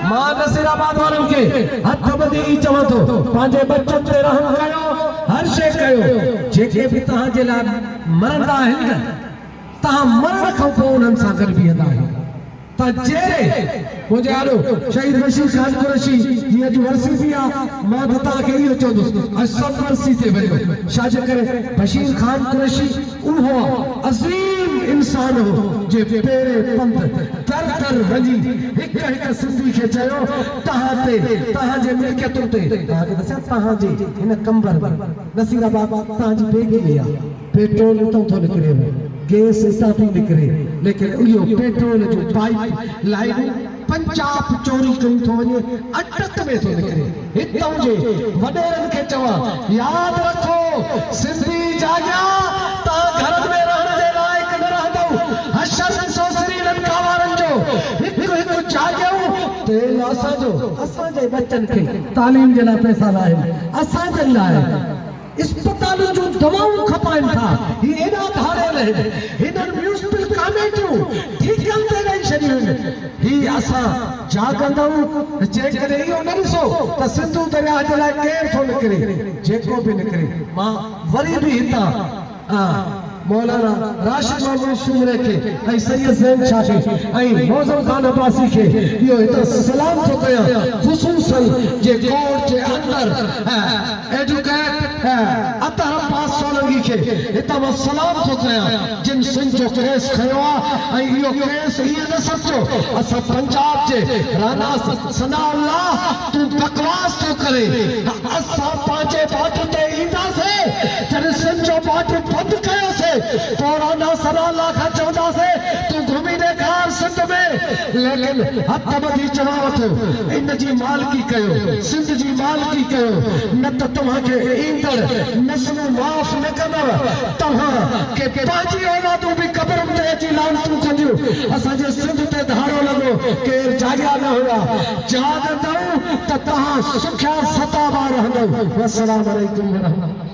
مان نصير آباد وارن کي هٿ ٻڌي هي چوان ٿو پنهنجي ٻچن تي رحم ڪيو هر شيء ڪيو جيڪي به توهان جي لاء مرندا آهن نه توهان مرڻ کان پوء انهن سان گڏ بيهندا آهيو ته جيئري منهنجي آڏو شهيد بشير خان قريشي جي اڄ ورسي به آ مان ته توهان کي اهو چوندس اڄ سڀ ورسي تي وڃو ڇا جي ڪري بشير خان قريشي اهو عظيم انسان هو جنهن پيري پنڌ در در وڃي هڪ هڪ سنڌي کي چيو توهان تي توهان جي ملڪيتن تي توهان کي دسيان توهان جي هن قنبر ۾ نصير آباد توهان جي بيگي ۾ آهي پيٽرول اتان ٿو نڪريو گيس اتان ٿي نڪري ليڪن اهو پيٽرول جون پائيپ لائينون پنچاپ چوري ڪيون ٿو وڃي اٽڪ ۾ ٿو نڪري هت هجي وڏيرن کي چوان ياد رکو سنڌي جاڳيا تان گهرن ۾ رهڻ جي لائق نه رهندؤ حشر ڏسو سري لنڪا وارن جو هڪ هڪ جاڳيون تيل اسان جو. اسان جي ٻچن کي تعليم جي لاء پئسا ناهن اسان جن لاء. اسپتالن جون دوائون کپائن ٿا، هي ايڏا ڌاڙيل آهن، هنن ميونسپل ڪاميٽيون ٺيڪن تي ڏئي ڇڏيون آهن، هي اسان جاڳندؤن، جيڪڏهن اهو نه ڏسو ته سنڌو درياهه جي لاء ڪير ٿو نڪري، جيڪو به نڪري مان وري به هتان. مولانا راشد محمود سومري کي ۽ سيد زين شاھ کي ۽ معظم خان عباسي کي اھو ھتان سلام ٿو ڪيان خصوصا جي ڪورٽ جي اندر ايڊوڪيٽ اطھر عباس سولنگي کي ھتان مان سلام ٿو ڪيان جن سنڌ جو ڪيس کنيو آ ۽ اھو ڪيس ائين نه سمجھو اسان پنجاب جي رانا ثناء الله تون بڪواس ٿو ڪرين ته اسان پنهنجي بارڊر تي اينداسين جڏهن سنڌ جو بارڊر بند ڪيوسين پورانا سرا لا کان چونداسين تون گهمي ڏيکار سنڌ ۾ ليڪن هٿ ٻڌي چوانو ٿو ان جي مالڪي ڪيو سنڌ جي مالڪي ڪيو نه ته توهان کي ايندڙ نسلون معاف نه ڪندو توهان کي پنهنجي اولادون به قبرن تي اچي لعنتون ڪنديون اسان جي سنڌ تي ڌاڙو لڳو ڪير جاڳيا نه هيا چاهندؤ ته توهان سکيا ستا ٻار رهندؤ. والسلام عليڪم ورحمة الله.